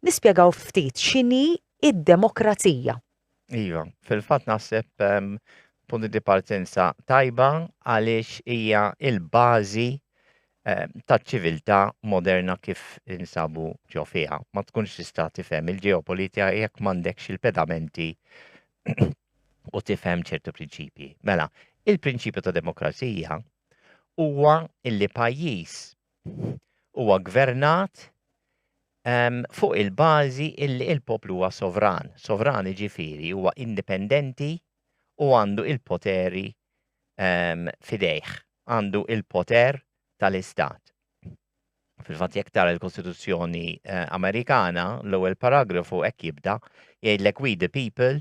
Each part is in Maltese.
Nispjegaw ftit x'inhi id-demokrazija. Iva, fil-fatt naħseb ehm, punti di partenza tajba għaliex hija il-bażi ehm, taċ-ċiviltà moderna kif insabu ġo fiha. Ma tkunx tista' tifhem il-ġeopolitika jekk m'għandekx il-pedamenti u tifhem ċertu prinċipji. Mela, il-prinċipju ta' demokrazija huwa illi pajjiż huwa gvernat fuq il-bażi illi il-poplu huwa sovran. Sovran jiġifieri huwa indipendenti u għandu il-poteri f'idejh, għandu il-poter tal-istat. Fil-fatt jekk tara l-Kostituzzjoni Amerikana, l-ewwel paragrafu hekk jibda, jgħidlek we the people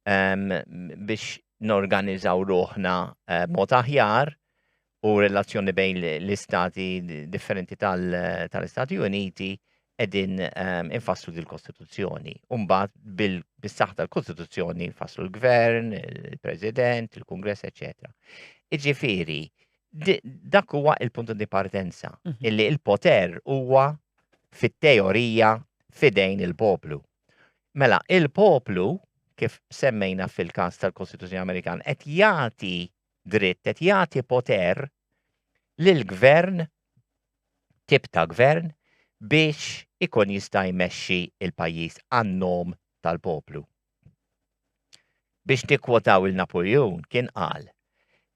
biex norganiżaw ruħna mod aħjar u relazzjoni bejn l-istati differenti tal-Istati Uniti edin ehm, infasslu dil-Kostituzzjoni. Umbat bil-saħ tal-Kostituzzjoni infasslu l-Gvern, il-President, il-Kongress, etc. Iġifiri, dak huwa il-punto di partenza, mhm. illi il-poter huwa fit-teorija fidejn il-poplu. Mela, il-poplu, kif semmejna fil-kas tal-Kostituzzjoni Amerikan, qed jagħti dritt qed jagħti poter lil gvern tip ta' gvern biex ikun jista' jmexxi l-pajjiż għan-nom tal-poplu. Biex nikkwotaw lil Napuljun kien qal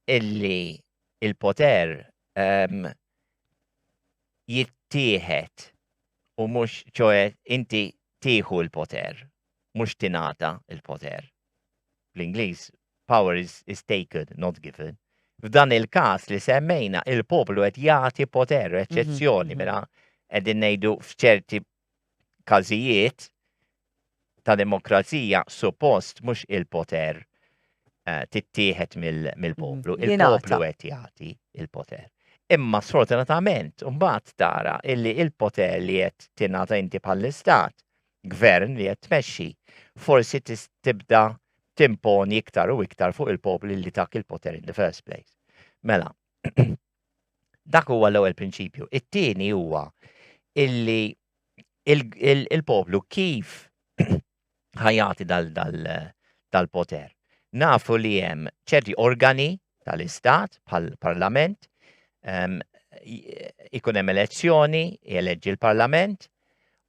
illi l-poter ehm, jittieħed u mhux ċoe inti tieħu l-poter, mhux tingħata l-poter. bl-Ingliż, power is, is taken, not given, f'dan il-każ li semmejna il-poplu qed jagħti poter, mhm, eċċezzjoni mhm. mela qegħdin ngħidu f'ċerti każijiet ta' demokrazija suppost mhux il-poter eh, tittieħed mill-poplu, mhm. il-poplu qed jagħti il-poter. Imma sfortunatament mbagħad tara illi il-poter li qed tingħata inti bħall-istat Gvern li qed tmexxi, forsi tibda timponi iktar u iktar fuq il-popli li tak il-poter in the first place. Mela, dak huwa l-ewwel prinċipju. It-tieni huwa illi il-poplu kif ħajati dal-poter. Nafu li hemm ċerti organi tal-Istat bħall-Parlament, ehm, ikun hemm elezzjoni, jeleġġi l-Parlament,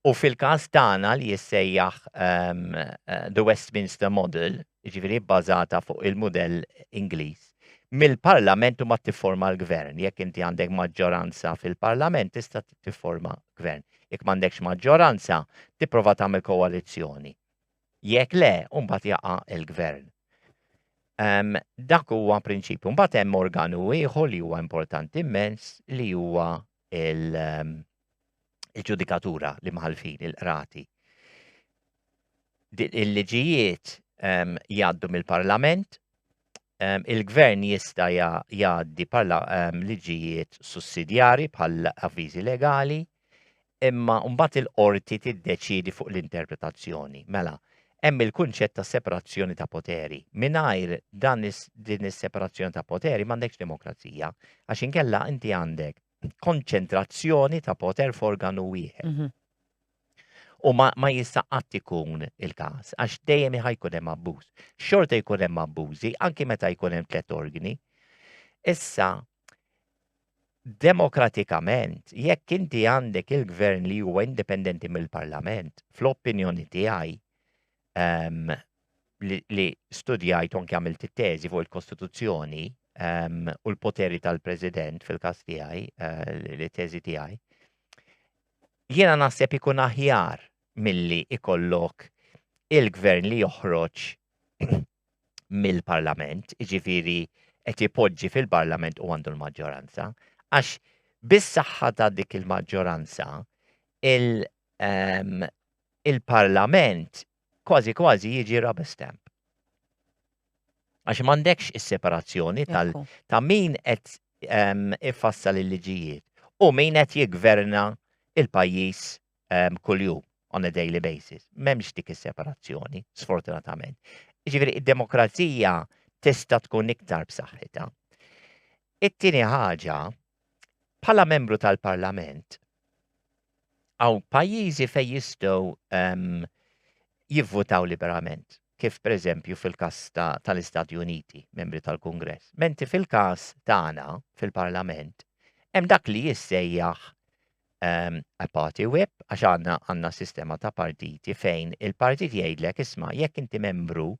u fil-każ tagħna li jissejjaħ ehm, eh, The Westminster Model, jiġifieri bbażata fuq il-mudell Ingliż. Mill-Parlament u ma tifforma l-Gvern, jekk inti għandek maġġoranza fil-Parlament tista' tifforma Gvern. Jekk m'għandekx maġġoranza, tipprova tagħmel koalizzjoni. Jekk le, mbagħad jaqa' il-gvern. Um, dak huwa prinċipju. Mbagħad hemm organu ieħor li huwa importanti immens li huwa il- um, il-ġudikatura li mħalfin il-qrati. Il-liġijiet um, jgħaddu mill-parlament, il-Gvern jista' jgħaddi bħala liġijiet sussidjarji bħal avviżi legali, imma mbagħad il-qorti tiddeċiedi fuq l-interpretazzjoni. Mela, hemm il-kunċett ta' separazzjoni ta' poteri. Mingħajr dan din is-separazzjoni ta' poteri m'għandekx demokrazija, għax inkella inti għandek konċentrazzjoni ta' poter f'organu wieħed. Mhm. U ma, ma jista' qatt ikun il-każ, għax dejjem jkun hemm abbuż. Xorta jkun hemm abbużi, anki meta jkun hemm tliet organi. Issa, demokratikament, jekk inti għandek il-gvern li huwa indipendenti mill-parlament, fl-opinjoni tiegħi, um, li, li studjajt u anke għamilt it-teżi fuq il-Kostituzzjoni um, u l-poteri tal-President fil-każ tiegħi, uh, li teżi tiegħi. Jiena naħseb ikun aħjar milli ikollok il-gvern li joħroġ mill-parlament, iġifiri qed ipoġġi fil-parlament u għandu l-maġġoranza, għax bis-saħħa ta' dik il-maġġoranza, il-Parlament kważi kważi jiġi rubber stamp. Għax m'għandekx is-separazzjoni tal ta' min qed ifassal il-liġijiet u min qed jigverna il-pajjiż kuljum on a daily basis. M'hemmx dik is-separazzjoni, sfortunatament. Ġifieri id-demokrazija tista' tkun iktar b'saħħitha. It-tieni ħaġa, bħala membru tal-Parlament, Għaw pajjiżi fejn jistgħu ehm, jivvutaw liberament, kif pereżempju fil-każ tal-Istati Uniti, membri tal-Kungress. Menti fil-każ tagħna fil-Parlament, hemm dak li jissejjaħ ehm, a party whip, għax għandna għandna sistema ta' partiti fejn il-partit jgħidlek isma' jekk inti membru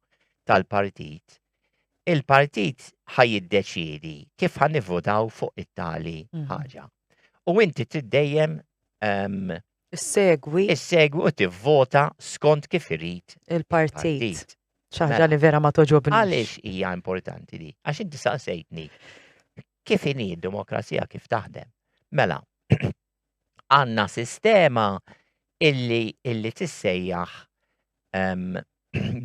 tal-partit il-partit ħa jiddeċiedi kif ħa nivvotaw fuq it-tali mhm. ħaġa. U inti trid dejjem ehm, Segwi. Segwi u tivvota skont kif irid il-partit. ċaħġa mela. li vera ma toġobni. Għaliex hija importanti di? Għax inti saqsejtni kif inhi d-demokrazija kif taħdem. Mela, għandna sistema illi illi tissejjaħ ehm,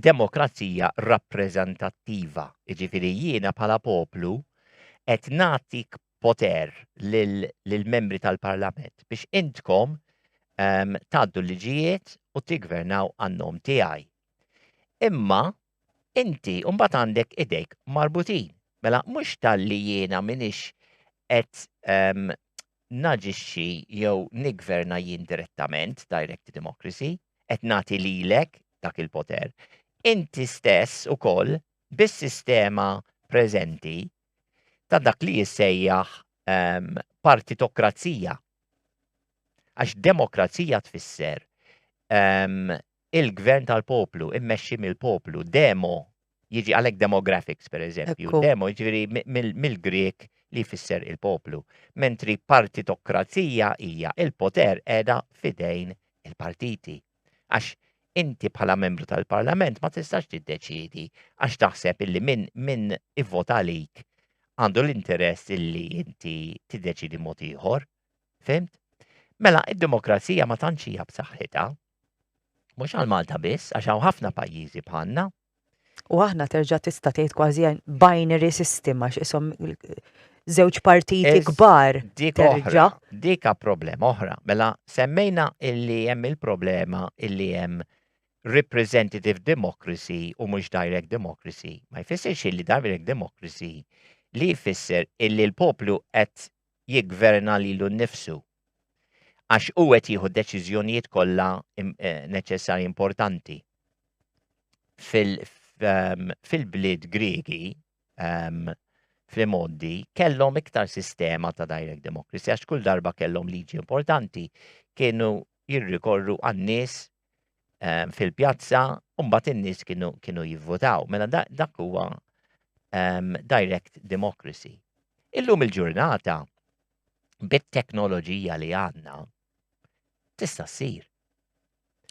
demokrazija rappreżentattiva. Jiġifieri jiena bħala poplu qed nagħtik poter lill-membri tal-Parlament biex intkom ehm, tgħaddu l-liġijiet u tiggvernaw għan-nom tiegħi. Imma Inti mbagħad għandek idejk marbutin. Mela mhux talli jiena minix qed ehm, naġixxi jew niggverna jien direttament, direct democracy, qed nagħti lilek dak il-poter. Inti stess ukoll bis-sistema preżenti ta' dak li jissejjaħ ehm, partitokrazija. Għax demokrazija tfisser ehm, il-gvern tal-poplu, immexxi mill-poplu, demo, jiġi għalhekk demographics pereżempju, Ekku. demo jiġifieri mi- mill- mill-Grieg li jfisser il-poplu, mentri partitokrazija hija il-poter qiegħda f'idejn il-partiti. Għax inti bħala membru tal-Parlament ma tistax tiddeċiedi għax taħseb illi min min ivvota għalik għandu l-interess illi inti tiddeċiedi mod ieħor. Fimt? Mela, id-demokrazija ma tantx hija b'saħħitha, Mhux għal Malta biss, għax hawn ħafna pajjiżi bħalna. U aħna terġa' tista' tgħid kważi binary system għax isom żewġ partiti kbar. Dik oħra, dika problema oħra. Mela semmejna illi hemm il-problema illi hemm representative democracy u mhux direct democracy. Ma jfissirx illi direct democracy li jfisser illi l-poplu qed jigverna lilu nnifsu Għax hu qed jieħu d-deċiżjonijiet kollha eh, neċessarji importanti. Ehm, fil-bliet Griegi, ehm, fl-imoddi, kellhom iktar sistema ta' direct democracy, għax kull darba kellhom liġi importanti, kienu jirrikorru għan-nies ehm, fil-pjazza, u mbagħad in-nies kienu, kienu jivvotaw. Mela dak huwa direct democracy. Illum il-ġurnata, bit-teknoloġija li għandna tista' ssir.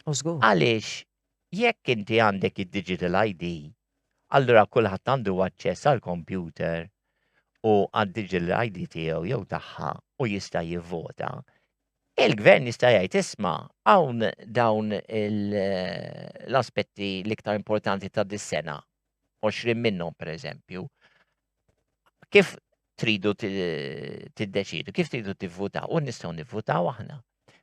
U żgur. Għaliex jekk inti għandek id-digital ID, allura kulħadd għandu aċċess għal kompjuter u għad-digital ID tiegħu jew tagħha u jista' jivvota. Il-gvern jista' jgħid isma' hawn dawn l-aspetti l-iktar importanti ta' dis-sena 20 minnhom pereżempju, kif tridu tiddeċidu, kif tridu tivvutaw, u nistgħu nivvutaw aħna.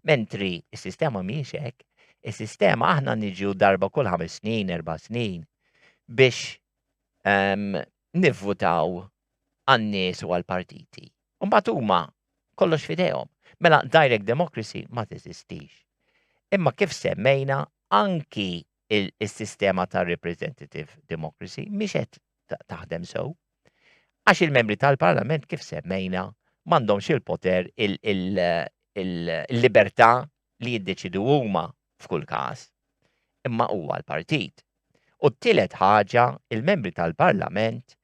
Mentri s-sistema mhijiex hekk, is-sistema aħna niġu darba kull ħames snin, erba' snin biex ehm, nivvutaw għan-nies u għall-partiti. Mbagħad huma kollox fidejhom. Mela direct democracy ma teżistix. Imma kif semmejna anki is-sistema ta' representative democracy mhix qed taħdem sew. Għax il-membri tal-Parlament kif semmejna m'għandhomx il-poter il-libertà li jiddeċidu huma f'kull każ. Imma huwa l-partit. U t-tielet ħaġa, il-membri tal-Parlament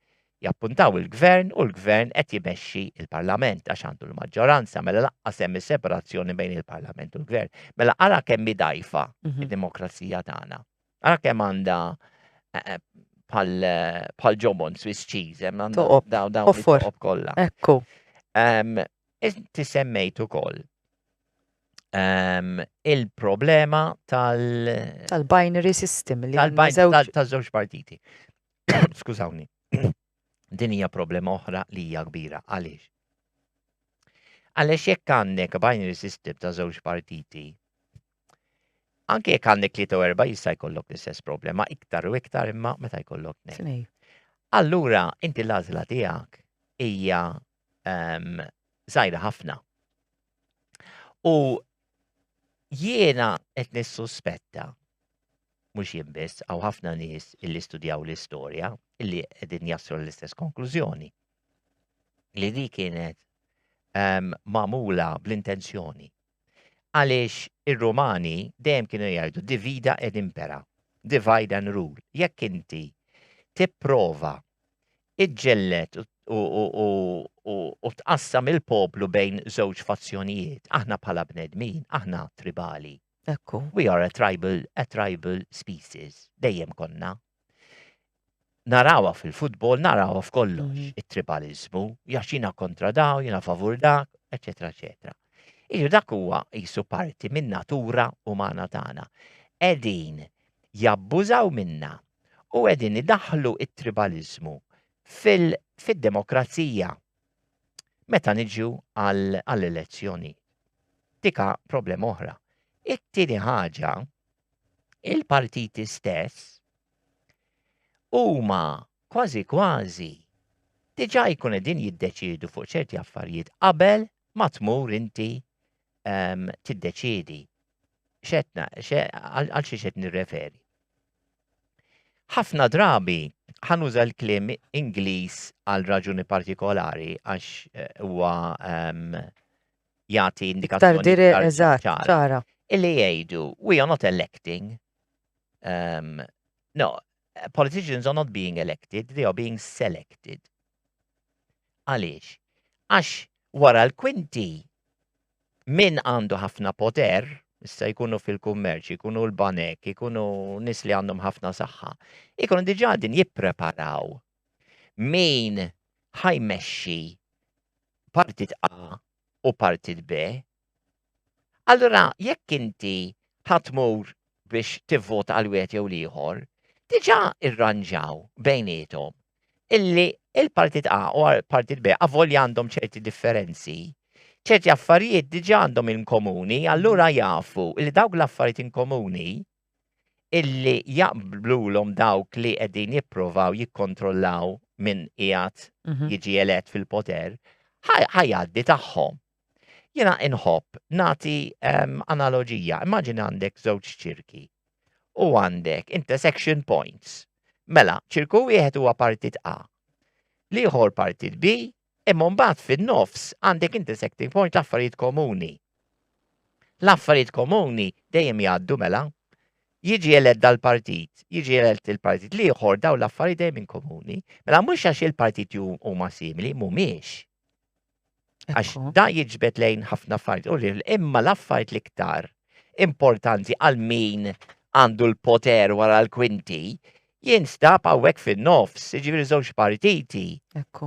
Jappuntaw il-Gvern u l-Gvern qed jmexxi l-Parlament għax għandu l-maġġoranza, mela lanqas hemm is-separazzjoni bejn il-Parlament u l-Gvern. Mela ara kemm hi dgħajfa Mhm. id-demokrazija tagħna. Ara kemm għandha eh, eh, bħal eh, bħal ġobon Swiss cheese, hemm għandha Toqob, daw daw offor. it-toqob kollha. Ekku. Um, inti semmejt ukoll um, il-problema tal- Tal-binary system li tal-bajn żewġ tal- taż-żewġ partiti. Skużawni. Din hija problema oħra li hija kbira. Għaliex? Għaliex jekk għandek binary system ta' żewġ partiti, anke jekk għandek li erba' jista' jkollok l-istess problema iktar u iktar imma meta jkollok nej. Allura, inti l-għażla tiegħek hija ehm, żgħira ħafna. U jiena qed nissuspetta mhux jien biss, għaw ħafna nies illi studjaw l-istorja illi qegħdin jaslu l-istess konklużjoni. Li di kienet um, mamula bl-intenzjoni. Għaliex ir-Rumani dejjem kienu jgħidu divida ed impera, divide and rule. Jekk inti tipprova iġġellet u tqassam il-poplu bejn żewġ fazzjonijiet, aħna bħala bnedmin, aħna tribali, Ekku. We are a tribal, a tribal species. Dejjem konna. Narawa fil-futbol, narawa f'kollox, mm -hmm. it-tribalizmu, jaxina kontra daw, jina favur dak, eccetera, eccetera. Iġu dak huwa jisu parti minn natura umana tagħna. Edin jabbużaw minna u edin idaħlu it-tribalizmu fil-demokrazija. meta niġu għall-elezzjoni. Dika problema oħra. It-tieni ħaġa, il-partiti stess huma kważi kważi diġà jkun qegħdin jiddeċiedu fuq ċerti affarijiet qabel ma tmur inti ehm, tiddeċiedi. Xetna, għal xi xed nirreferi. Ħafna drabi ħa nuża l-kliem Ingliż għal raġuni partikolari għax huwa jagħti indikazzjoni ċara. Illi jgħidu we are not electing. Um, no, politicians are not being elected, they are being selected. Għaliex? Għax wara l-kwinti min għandu ħafna poter, issa jkunu fil-kummerċ, jkunu l-banek, jkunu nies li għandhom ħafna saħħa, jkunu diġà din jippreparaw min ħajmexxi partit A u partit B Allura jekk inti ħatmur biex tivvota għal wieħed jew l-ieħor, diġà irranġaw bejniethom illi il-partit A u partit B avolja għandhom ċerti differenzi, ċerti affarijiet diġà għandhom inkomuni, allura jafu li dawk l-affarijiet inkomuni illi jaqblulhom dawk li qegħdin jipprovaw jikkontrollaw minn qiegħed mhm. jiġi elett fil-poter, ħajaddi tagħhom. Jiena inħobb nagħti ehm, analoġija, immaġina għandek żewġ ċirki u għandek intersection points. Mela, ċirku wieħed huwa partit A, liħor partit B, imma mbagħad fin-nofs għandek intersecting point l-affarijiet komuni. L-affarijiet komuni dejjem jgħaddu mela. Jiġi eled dal-partit, jiġi eled il-partit liħor daw l-affarijiet dejjem komuni. Mela mhux għax il-partit huma simili, mhumiex. Għax da jiġbed lejn ħafna affarijiet u ril, imma l-affarijiet l-iktar importanti għal min għandu l-poter wara l-kwinti jinstab għawek fin-nofs, ġiviri żewġ partiti.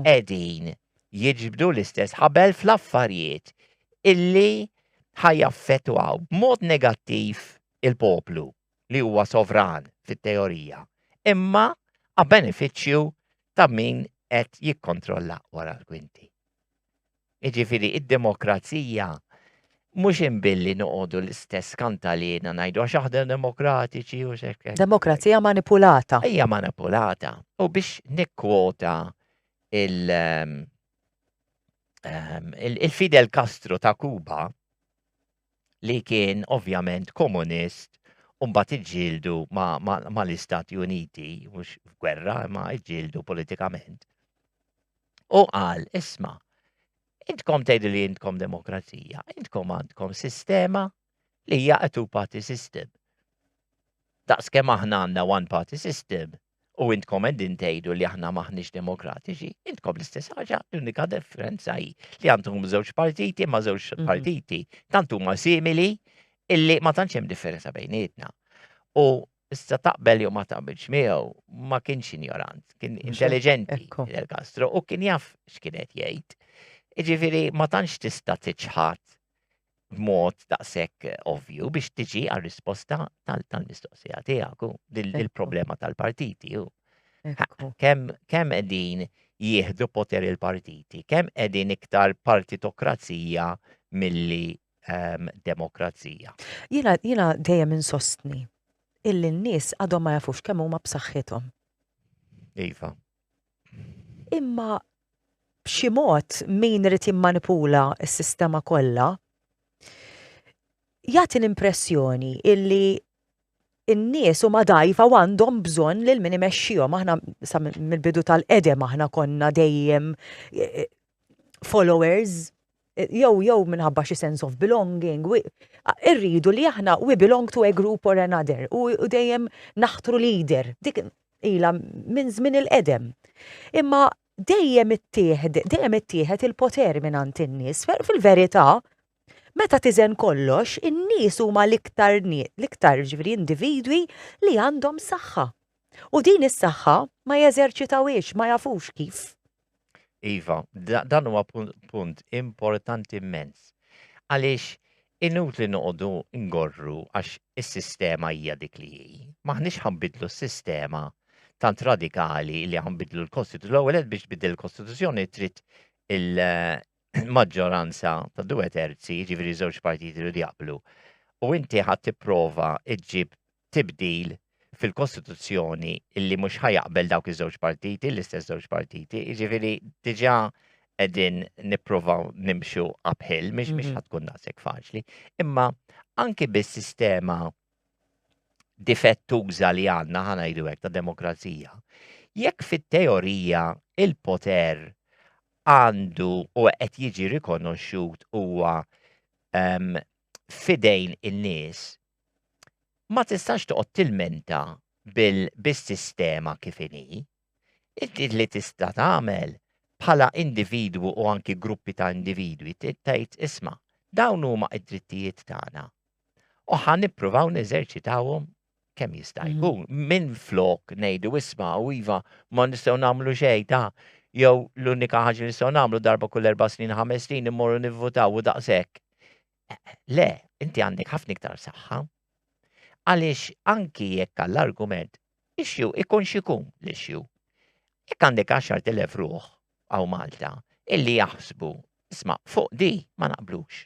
Edin jiġbdu l-istess ħabel fl-affarijiet illi ħajaffetwaw b'mod negattiv il-poplu. li huwa sovran fit-teorija, imma a benefiċċju ta' min qed jikkontrolla wara l-kwinti. Jiġifieri id-demokrazija mhux inbilli noqogħdu l-istess kantalina ngħidu għax aħna demokratiċi u xekk. Demokrazija manipulata. Hija manipulata. U biex nikkwota il- ehm, ehm, il-Fidel Castro ta' Kuba li kien ovvjament komunist u mbagħad iġġieldu mal-Istati Uniti, mhux f'gwerra, imma iġġieldu politikament. U qal, isma, intkom tgħidu li intkom demokrazija, intkom għandkom sistema li hija a two-party system. Daqs kemm aħna għandna one-party system, U intkom qegħdin tgħidu li aħna maħniex demokratiċi, intkom l-istess ħaġa, l-unika differenza hi li għandhom żewġ partiti ma' żewġ mhm. partiti tant huma simili illi ma tantx hemm differenza bejnietna. U issa taqbel jew ma taqbilx miegħu ma kienx injorant, kien intelligenti Del Castro u kien jaf x'kienet jgħid. Iġifieri ma tantx tista' tiċħad b'mod daqshekk ovvju biex tiġi għal risposta tal-mistoqsija tiegħek u il-problema tal-partiti u kemm qegħdin jieħdu poter il-partiti, kemm qegħdin iktar partitokrazija milli ehm, demokrazija. Jiena jiena dejjem insostni illi n-nies għadhom ma jafux kemm huma b'saħħithom. Iva. Imma b'xi mod min irid jimmanipula s-sistema kollha jagħti l-impressjoni illi n-nies huma dgħajfa u għandhom bżonn lil min imexxihom. Aħna sa mill-bidu tal-qedem aħna konna dejjem eh, eh, followers jew jew minħabba xi sense of belonging, irridu li aħna we belong to a group or another u dejjem naħtru leader. Dik ila minn żmien il-qedem. Imma dejjem ittieħed, dejjem ittieħed il-poter minn għand in-nies. Fil-verità, meta tiżen kollox, in-nies huma l-iktar l-iktar ġifieri individwi li għandhom saħħa. U din is-saħħa ma jeżerċitawhiex, ma jafux kif. Iva, dan huwa punt importanti immens. Għaliex inutli noqogħdu ngorru għax is-sistema hija dik li hi. Maħniex ħanbidlu s-sistema tant radikali li ħanbidlu l-Kostituzzjoni. L-ewwel biex tbiddel il-Kostituzzjoni trid il-maġġoranza ta' due terzi, ġifieri żewġ partiti li jaqblu. U inti ħadd tipprova iġġib tibdil fil-Kostituzzjoni illi mhux ħajaqbel dawk iż-żewġ partiti, l-istess żewġ partiti, jiġifieri diġà qegħdin nippruvaw nimxu uphill, mhix mhix mhm. ħatkun nasek faċli. Imma anki bis-sistema difettuża li għandna ħana jdu hekk ta' demokrazija, jekk fit-teorija il-poter għandu u qed jiġi rikonoxxut huwa um, fidejn in-nies, ma tistax toqgħod tilmenta bis-sistema kif inhi. Inti li tista' tagħmel bħala individwu u anki gruppi ta' individwi tgħid isma' dawn huma d-drittijiet tagħna u ħa nippruvaw neżerċitawhom kemm jista' mm. jkun minn flok ngħidu isma' u iva ma nistgħu nagħmlu xejn ta' jew l-unika ħaġa li nistgħu nagħmlu darba kull erba' snin ħames snin immorru nivvutaw u daqshekk. Le, inti għandek ħafna iktar saħħa. Għaliex anki jekk għall-argument issue ikun xikun l-issue. Jekk għandek 10,000 ruħ għaw Malta illi jaħsbu, isma' fuq di ma naqblux.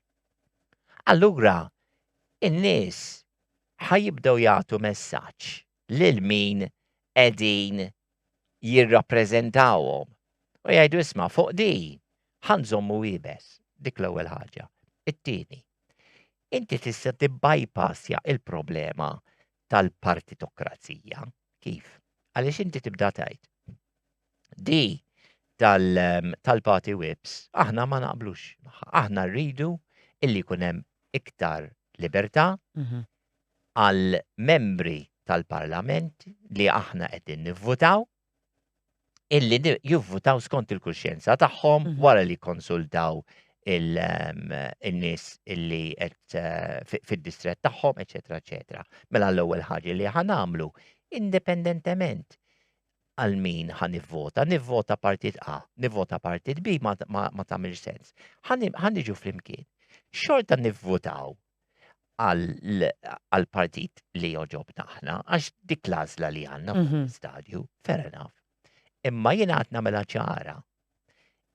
Allura in-nies ħajibdew jagħtu messaġġ lil min qegħdin jirrappreżentawhom u jgħidu isma' fuq di ħanżommu iebes. Dik l-ewwel ħaġa. It-tieni, inti tista' tibbypassja il-problema tal-partitokrazija. Kif? Għaliex inti tibda tgħid di tal-party whips aħna ma naqblux. Aħna rridu illi jkun hemm iktar libertà mhm. għal membri tal-parlament li aħna qegħdin nivvutaw illi jivvutaw skont il-kuxjenza tagħhom mhm. wara li konsultaw ehm, il-nis illi qed eh, fid-distrett tagħhom, eċetera, eċetera. Mela l-ewwel ħaġa li ħanamlu indipendentement għal min ħa nivvota, nivvota partit A, nivvota partit B ma, ma, ma tamilx sens. Ħa niġu flimkien. Xorta nivvotaw għal partit li joġob naħna, għax dik lażla li għanna fuq mhm. stadju, fair enough. Imma jien għad namela ċara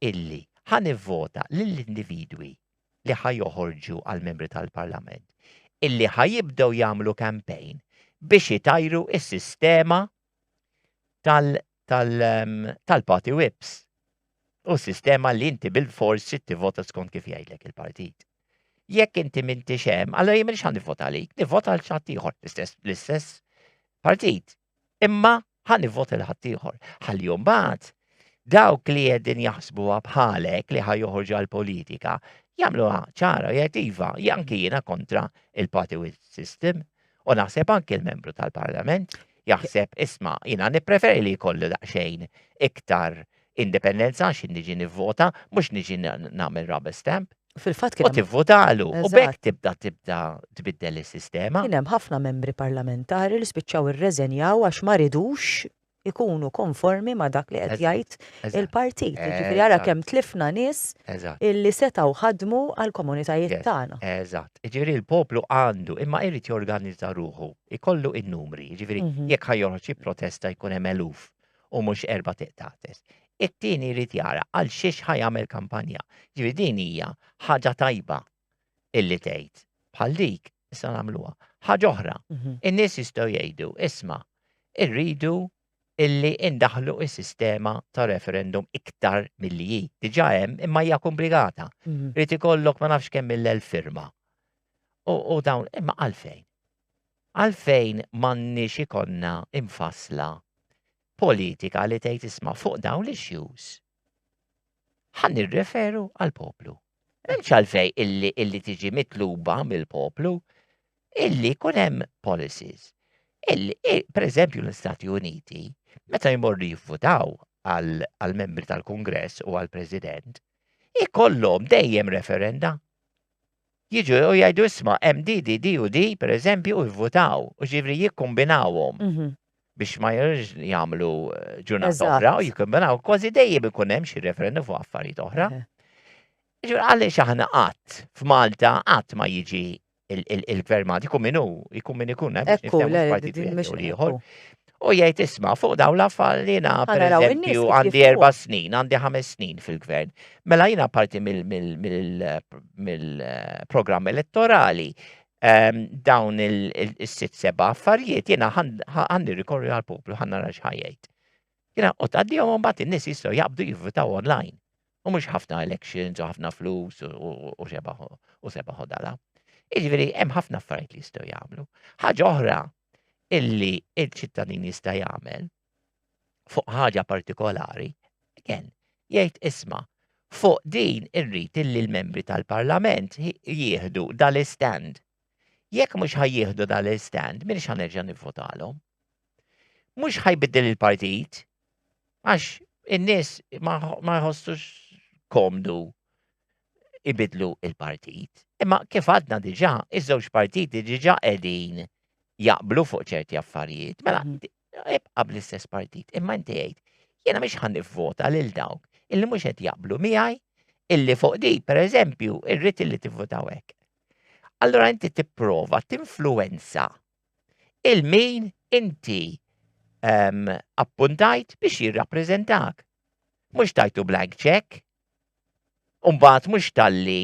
illi ħan vota lill-individwi li ħajoħorġu għal-membri tal-parlament illi ħajibdew jagħmlu kampejn biex itajru is-sistema tal tal ehm, tal-party whips u sistema li inti bil-fors trid tivvota skont kif jgħidlek il-partit. Jekk inti m'intix hemm, allora jien m'iniex ħan nivvota għalik, nivvota għal xatt ieħor l-istess partit. Imma ħan nivvota l ħadd ieħor. Ħalli mbagħad dawk li qegħdin jaħsbuha bħalek li ħaj joħorġu għall-politika jagħmluha ċara jgħid iva, janki jiena kontra il-party system U naħseb anki l-membru tal-Parlament jaħseb isma' jiena nippreferi li jkollu daqsxejn iktar indipendenza għax niġi nivvota mhux niġi nagħmel rubber stamp. Fil-fatt kien. U tivvotalu. U bekk tibda tibda tbiddel is-sistema. Kien hemm ħafna membri parlamentari li spiċċaw irreżenjaw għax ma ridux ikunu konformi ma' dak li qed jgħid il-partit. Jiġifieri ara kemm tlifna nies illi setgħu ħadmu għall-komunitajiet tagħna. Eżatt. Jiġifieri l-poplu għandu imma jrid jorganizza ruħu, ikollu in-numri, jiġifieri jekk ħa joħroġ jipprotesta jkun hemm eluf u mhux erba' tiqtates. It-tieni jrid jara għal xiex ħa jagħmel kampanja. Jiġifieri din hija ħaġa tajba illi tgħid bħal dik issa nagħmluha. Ħaġa oħra, mhm. in-nies jistgħu jgħidu, isma' irridu illi indaħlu is-sistema ta' referendum iktar milli hi. Diġà hemm imma hija komplikata. Mhm. Rrid ikollok ma nafx kemm mill-elf firma. U dawn imma għalfejn. Għalfejn m'għandniex ikonna imfasla politika li tgħid isma' fuq dawn l-issues Ħan nirreferu għal-poplu. M'hemmx għalfej illi illi tiġi mitluba mill-poplu illi jkun hemm policies. Per eżempju l-Istati Uniti, meta jmorru jivvutaw għal-membri tal-Kungress u għal-President, ikollhom dejjem referenda. jiġu u jgħidu isma' hemm di, di, di u di, pereżempju, u jivvutaw, u ġifieri jikkombinawhom biex ma jridux jagħmlu ġurnata oħra u jikkombinaw, kważi dejjem ikun hemm xi referendum fuq affarijiet oħra. Ġifieri għaliex aħna qatt f'Malta qatt ma jiġi il-gvern Malti jkun min hu, jkun min ikun hemm biex niftehmu f'partit wieħed jew ieħor. U jgħid isma' fuq dawn l-affarijiet li jiena pereżempju għandi erba' snin, għandi ħames snin fil-gvern. Mela jiena parti mill-programm elettorali ehm, dawn il-sitt seba' affarijiet jiena għandi rikorri għal-poplu ħanna nara x'ħajjejt. Jiena u tgħaddihom mbagħad in-nies jistgħu jaqbdu jivvitaw online. U mhux ħafna elections u ħafna flus u sebaħ u dala. Iġveri, hemm ħafna affarijiet li jistgħu jagħmlu. Ħaġa oħra illi il-ċittadin jista' jagħmel fuq ħaġa partikolari, again, jgħid isma' fuq din irrid illi l-membri tal-Parlament jieħdu dal-istand. Jekk mhux ħajjieħdu dal-istand, min xanerġa' nivvotalhom. Mhux ħajbiddel il-partit, għax in-nies ma jħossux komdu ibidlu il-partit. Imma kif għadna diġa, iż-żewġ partiti diġa qegħdin jaqblu fuq ċerti affarijiet. Mela, mhm. ibqa bl-istess partit. Imma inti għid, jena miex ħan nivvota lil dawk illi mhux qed jaqblu miegħi illi fuq di, per eżempju, irrid illi tivvotaw hekk. Allura inti tipprova tinfluenza il-min inti um, appuntajt biex jirrappreżentak. Mhux tajtu blank check, Umbagħad mhux talli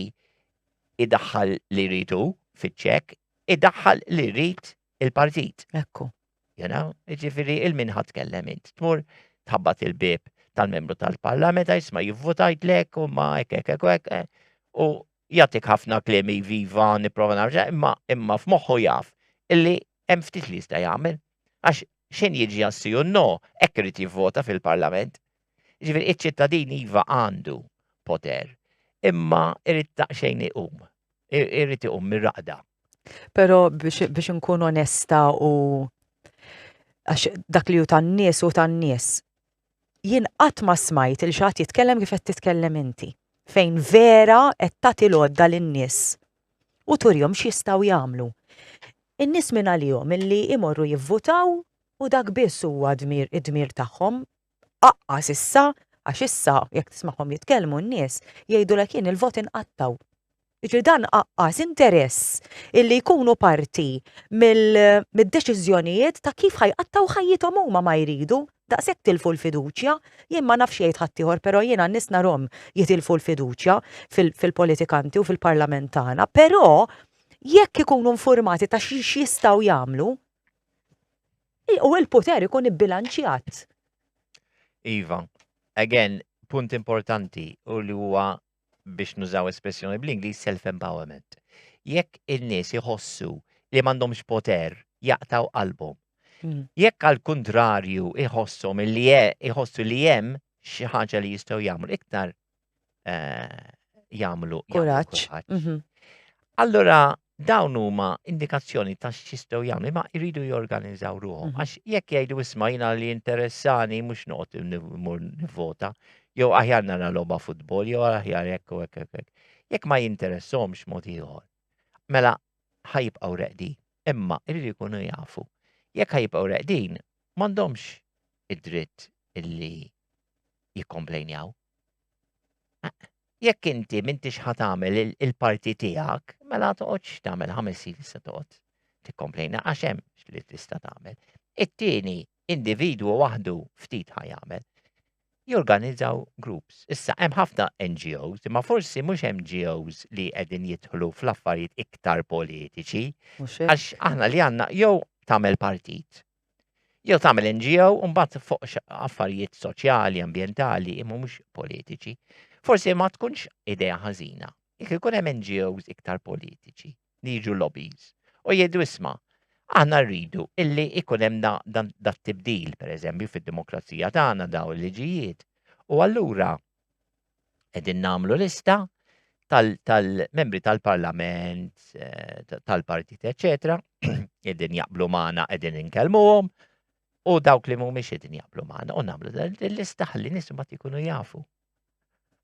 idaħħal li jridu fiċ-ċek, idaħħal li jrid il-partit. Ekku. You know, ġifiri il-minħat kellem int. Tmur tħabbat il-bib tal-membru tal-parlament, jisma jivvotajt lek u ma ek ek ek ek eh, u jatik ħafna klemi viva niprofa narġa, imma imma f'moħħu jaf illi hemm ftit li jista' jagħmel. Għax xejn jiġi jassi u no, hekk irid jivvota fil-parlament. Jiġifieri iċ-ċittadin iva għandu poter, imma irid daqsxejn iqum. Irid iqum mir-raqda. Però biex inkun onesta u għax dak li hu tan-nies u tan-nies. Jien qatt ma smajt il xi ħadd jitkellem kif qed titkellem inti, fejn vera qed tagħti l-għodda lin-nies u turihom x'jistgħu jagħmlu. In-nies min għalihom illi jmorru jivvutaw u dak biss huwa dmir id-dmir tagħhom tqaqqas issa għax issa jekk tismagħhom jitkellmu n-nies jgħidulek jien il-vot inqattgħu. Jiġri dan qaqqas interess illi jkunu parti mid-deċiżjonijiet ta' kif ħajqattgħu ħajjithom huma ma jridu daqshekk tilfu l-fiduċja, jien ma nafx jgħid ħaddieħor però jiena n-nies narhom jitilfu l-fiduċja fil-politikanti u fil-Parlament tagħna, però jekk ikunu infurmati ta' x'jistgħu jagħmlu, U il-poter ikun ibbilanċjat. Iva, again, punt importanti u li huwa biex nużaw espressjoni bl-Ingliż self-empowerment. Jekk in-nies iħossu li m'għandhomx poter jaqtaw qalbhom. Hmm. Jekk għal kuntrarju iħossom li iħossu li hemm xi ħaġa li jistgħu jagħmlu iktar eh, jagħmlu kuraġġ. Mhm. Allura dawn huma indikazzjoni ta' x'jistgħu jagħmlu, ma jridu jorganizzaw ruħhom. Mhm. Għax jekk jgħidu isma' jiena li interessani mhux noqgħod nimur nivvota, jew aħjar nara logħba futbol, jew aħjar hekk u hekk hekk. Jekk ma jinteressomx mod ieħor. Mela ħajbqgħu reqdi, imma jridu jkunu jafu. Jekk ħajbqgħu reqdin, m'għandhomx id-dritt illi jikkomplejnjaw. Jekk inti m'intix ħa tagħmel il-parti tiegħek, mela toqgħodx tagħmel ħames snin se toqgħod tikkomplejna għax hemm li tista' tagħmel. It-tieni individwu waħdu ftit ħa jagħmel. Jorganizzaw groups. Issa hemm ħafna NGOs, imma forsi mhux NGOs li qegħdin jidħlu fl-affarijiet iktar politiċi. Għax aħna li għandna jew tagħmel partit Jew tagħmel NGO u mbagħad fuq affarijiet soċjali, ambjentali, imma mhux politiċi. Forsi ma tkunx idea ħażina. Jekk ikun hemm NGOs iktar politiċi li jiġu lobbies u jgħidu isma' aħna rridu illi ikun hemm da tibdil pereżempju fid-demokrazija tagħna daw il-liġijiet. U allura Qegħdin nagħmlu lista tal-membri tal-parlament, eh, tal-partit, eccetera, qegħdin jaqblu magħna, qegħdin inkellmuhom, u dawk li mhumiex qegħdin jaqblu magħna u nagħmlu l-lista ħalli nies ma jkunu jafu.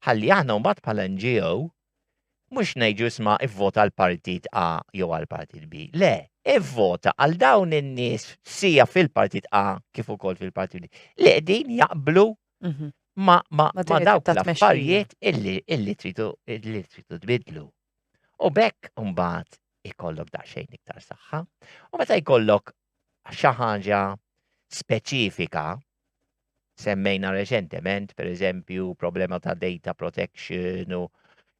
Ħalli aħna mbagħad bħala NGO mhux ngħidu isma' ivvota l-partit A jew għal partit B. Le, ivvota għal dawn in-nies sija fil-partit A kif ukoll fil-partit B. Li qegħdin jaqblu Mhm. ma, ma, ma dawk l-affarijiet illi, illi tridu illi tridu tbidlu. U bekk mbagħad ikollok daqsxejn iktar saħħa. U meta jkollok xi ħaġa speċifika, semmejna reċentement, per eżempju, problema ta' data protection u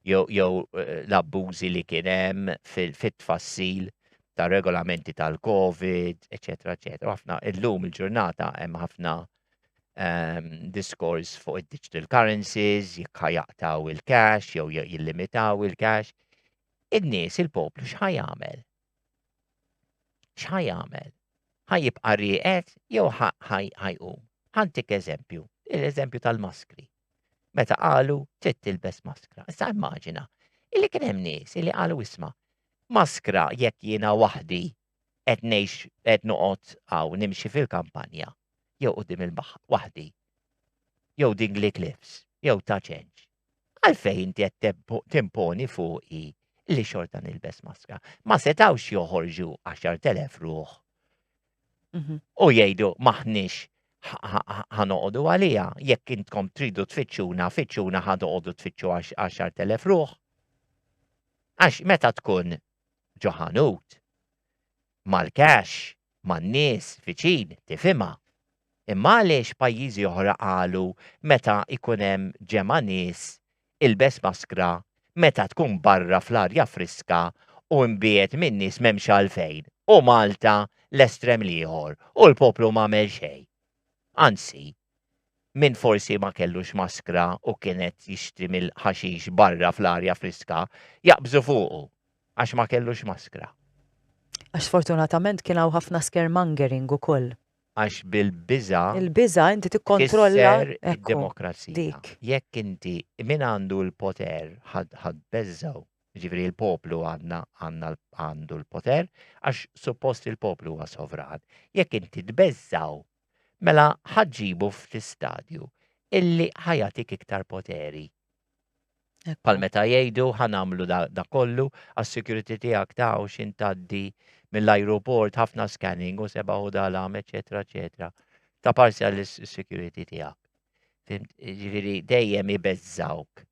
jew eh, l-abbużi li kien hemm fit-tfassil ta' regolamenti tal-COVID, eċetera, eċetera. Ħafna illum il-ġurnata hemm ħafna um, diskors fuq id-digital currencies, jekk jaqtaw il-cash jew jillimitaw il-cash. In-nies, il-poplu, x'ħaj jagħmel? X'ħaj jagħmel? Ħaj jibqa' rieqed jew ħajqum? Ħantik eżempju, l-eżempju tal-maskri. Meta qalu trid tilbes maskra. Issa immaġina, illi kien hemm nies illi qalu isma' maskra jekk jiena waħdi qed ngħix qed noqgħod hawn nimxi fil-kampanja jew quddiem il-baħar waħdi jew Dingley Cliffs jew ta' ċenġ. Għalfejn inti qed timponi fuqi li xorta nilbes maskra. Ma setawx joħorġu 10,000 ruħ. Mhm. U jgħidu maħniex ħanoqodu għalija, jekk intkom tridu tfittxuna, fittxuna ħanoqodu tfittxu 10,000 ruħ. Għax meta tkun ġo ħanut. Mal-cash, man-nies viċin tifhimha. Imma għaliex pajjiżi oħra qalu meta jkun hemm ġemgħa nies ilbes maskra meta tkun barra fl-arja friska u mbiegħed min-nies m'hemmx għalfejn u Malta l-estrem l-ieħor u l-poplu m'għamel xejn. Anzi, Min forsi ma kellux maskra u kien qed jixtri mill-ħaxix barra fl-arja friska, jaqbżu fuqu għax ma kellux maskra. Għax sfortunatament kien hawn ħafna scaremongering ukoll. Għax bil-biża'. Il-biża' inti tikkontrolla. Kisser id-demokrazija. Jekk inti min għandu l-poter ħadd beżżgħu. Jiġifieri l-poplu għandna għandu l-poter għax suppost il-poplu huwa sovran. Jekk inti tbeżżgħu mela ħa ġġibu f'xi stadju illi ħa jagħtik iktar poteri. Bħal meta jgħidu ħa nagħmlu da, da kollu għas-security tiegħek ta' u xin taddi mill-ajruport ħafna scanning u seba' u dalam, eċetera, eċetera. Ta' parzja l-security tiegħek. Ġifieri dejjem ibeżżawk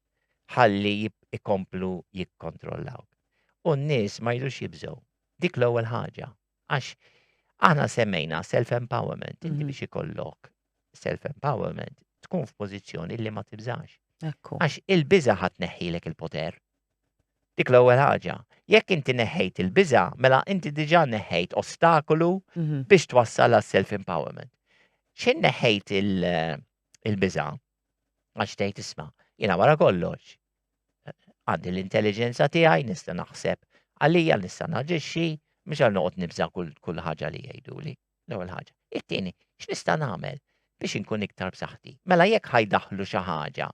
ħalli ikomplu jikkontrollawk. U n-nies ma jidux jibżgħu. Dik l-ewwel ħaġa. Għax aħna semmejna self-empowerment, inti mhm. biex ikollok self-empowerment, tkun f'pożizzjoni li ma tibżax. Għax il-biża ħat neħħilek il-poter. Dik l-ewwel ħaġa. Jekk inti neħħejt il-biża, mela inti diġà neħħejt ostakolu mhm. biex twassal għas self-empowerment. Xejn neħħejt il-biża għax tgħid isma' jiena wara kollox Għandi l-intelliġenza tiegħi, nista' naħseb għalija, nista' naġixxi, mhux għal noqgħod nibża' kull ħaġa li jgħiduli. L-ewwel ħaġa. It-tieni, x'nista' nagħmel biex inkun iktar b'saħħti? Mela jekk ħajdaħlu xi ħaġa,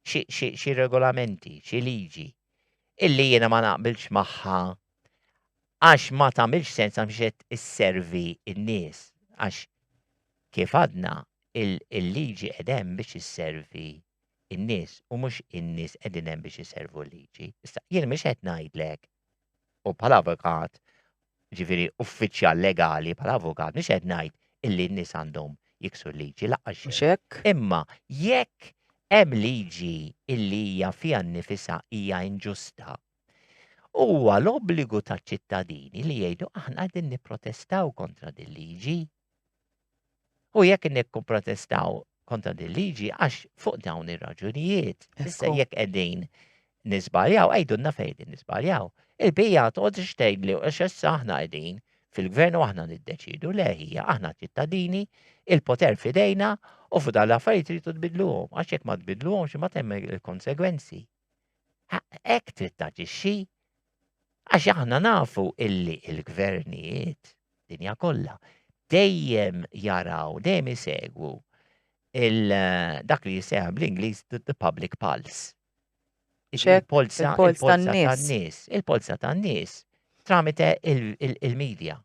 xi regolamenti, xi liġi, illi jiena ma naqbilx magħha għax ma tagħmilx sens għax qed isservi n-nies għax kif għadna il-liġi qed hemm biex isservi in-nies u mhux in-nies qegħdin hemm biex iservu l-liġi. Issa jien mhux qed ngħidlek u bħala avukat, ġifieri uffiċjal legali bħala avukat, mhux qed ngħid illi n-nies għandhom jiksu l-liġi laqgħa xejn. Imma jekk hemm liġi illi hija fiha nnifisha hija inġusta, huwa l-obbligu taċ-ċittadini li jgħidu aħna qegħdin nipprotestaw kontra din liġi. U jekk nikkumprotestaw kontra din liġi għax fuq dawn ir-raġunijiet, issa jekk qegħdin nisbaljaw, għajdunna fejn nisbaljaw. Il-bija toqgħod ixtejn li xessa aħna qegħdin fil-gvern u aħna niddeċidu le hija aħna ċittadini, il-poter fidejna u fuq dan l-affarijiet tridu tbidluhom għax jekk ma tbidluhomx ma temm il-konsegwenzi. Hekk trid taġixxi Għax aħna nafu illi il-gvernijiet dinja kollha dejjem jaraw, dejjem isegwu dak li jisejħ bl-Ingliż the public pulse. Il-polza tan-nies. Il-polza tan-nies tramite il-medja.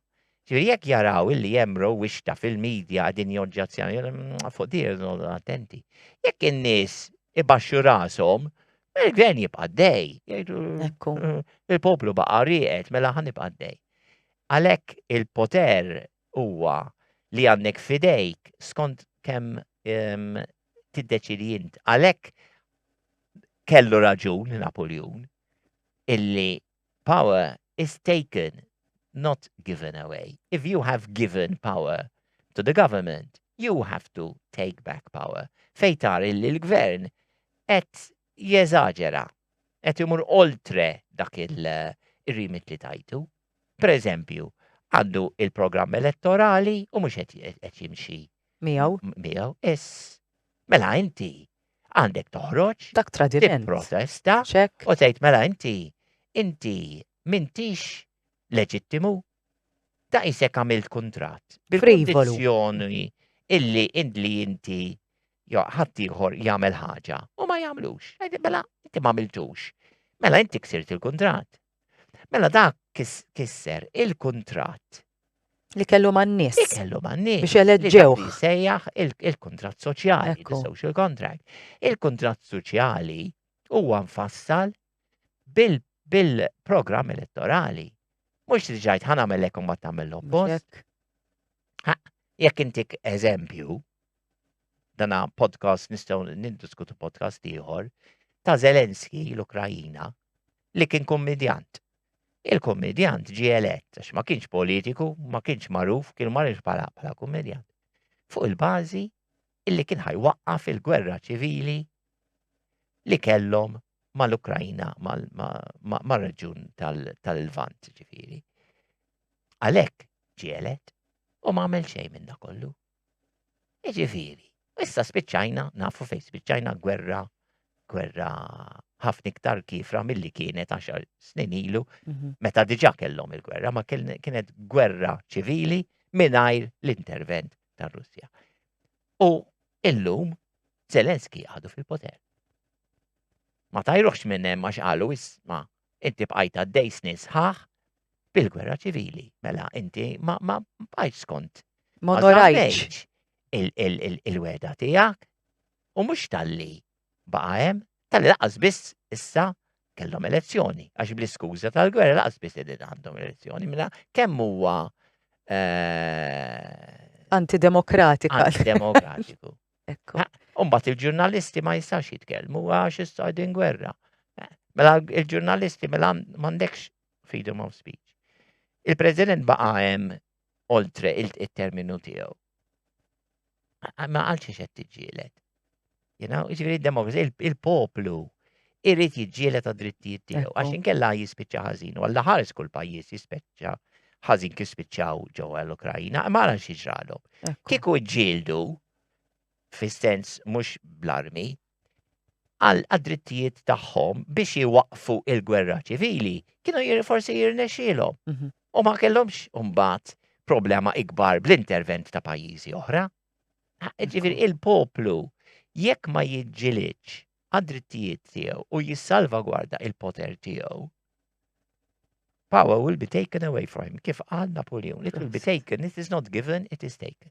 Ġifieri jekk jaraw illi hemm rowwixta fil-media qegħdin joġġezzjonaw fuq din irridu noqogħdu attenti. Jekk in-nies ibaxxu rashom, mela l-gvern jibqa' għaddej. Jgħidu Ekku. il-poplu baqa' rieqed mela ħa nibqa' għaddej. Għalhekk il-poter huwa li għandek f'idejk skont kemm ehm, tiddeċidi int. Għalhekk kellu raġun Napuljun illi Power is taken, not given away. If you have given power to the government, you have to take back power. Fejn tara illi l-Gvern qed jeżaġera, qed imur oltre dak ir-remit li tajtu. Per eżempju, għandu il-programm elettorali u mhux qed jimxi. Miegħu. Miegħu, iss. Mela inti għandek toħroġ, dak tradiment, protesta, ċek, u tgħid mela inti, inti mintix leġittimu, ta' isek għamilt kontrat, bil-kondizjoni illi indli inti jo ħaddieħor jagħmel ħaġa u ma jagħmlux. Mela inti ma għamiltux. Mela inti ksirt il-kontrat. Mela dak kisser il-kuntratt li kellu man-nies. Li kellu man-nies. Biex eleġġew. Sejjaħ il-kuntratt soċjali, il-social contract. Il-kuntratt soċjali huwa nfassal bil-programm elettorali. Mhux li ġajt ħana mellek u ma tagħmel l-oppost. Jekk intik eżempju, dana podcast nistgħu nindiskutu podcast ieħor ta' Zelenski l-Ukrajina li kien kummedjant. Il-kummedjant ġie elett għax ma kienx politiku, ma kienx magħruf, kien marriġ bħala bħala kummedjant. Fuq il-bażi illi kien ħajwaqqaf il-gwerra ċivili li kellhom mal-Ukrajna, mal-reġjun tal-Lvant ġifieri. Għalhekk ġie elett u ma għamel xejn minna kollu. Jiġifieri, issa spiċċajna, nafu fejn spiċċajna gwerra, gwerra ħafna iktar kifra milli kienet għaxar snin ilu, mhm. meta diġà kellhom il-gwerra, ma kienet gwerra ċivili mingħajr l-intervent tar-Russja. U illum Zelenski għadu fil-poter. Ma tajruħx minn hemm għax qalu isma' Inti bqajt għaddej snin sħaħ bil-gwerra ċivili, mela inti ma bqajt skont. Ma norajtx il-weda tiegħek u mhux talli baqa' hemm, talli laqas biss issa kellhom elezzjoni, għax bl-iskuża tal-gwerra laqas biss li għandhom elezzjoni, mela kemm huwa eh, antidemokratika. Antidemokratiku. Ekku. Umbat il-ġurnalisti ma jistax jitkellmu għax issa għadin gwerra. Mela il-ġurnalisti mela m'għandekx freedom of speech. Il-President baqa' hemm oltre il-terminu tiegħu. Ma għalx xed tiġġielet. You know, ġifieri demokrazija, il-poplu, irid jiġġieled għad-drittijiet tiegħu għax Ekku. inkella jispiċċa ħażin u għalla ħares kull pajjiż jispiċċa ħażin kif spiċċaw ġewwa l-Ukrajina, imma ara xi ġralhom. Ekku. Kieku ġġieldu fis-sens mhux bl-armi għal għad-drittijiet tagħhom biex iwaqfu il-gwerra ċivili, kienu jir- forsi jirnexxielhom. Mhm. U ma kellhomx mbagħad problema ikbar bl-intervent ta' pajjiżi oħra. Ġifieri il-poplu jekk ma jiġġilidx għad-drittijiet tiegħu u jissalvagwarda il-poter tiegħu, power will be taken away from him, kif qal Napoleon, it will be taken, it is not given, it is taken.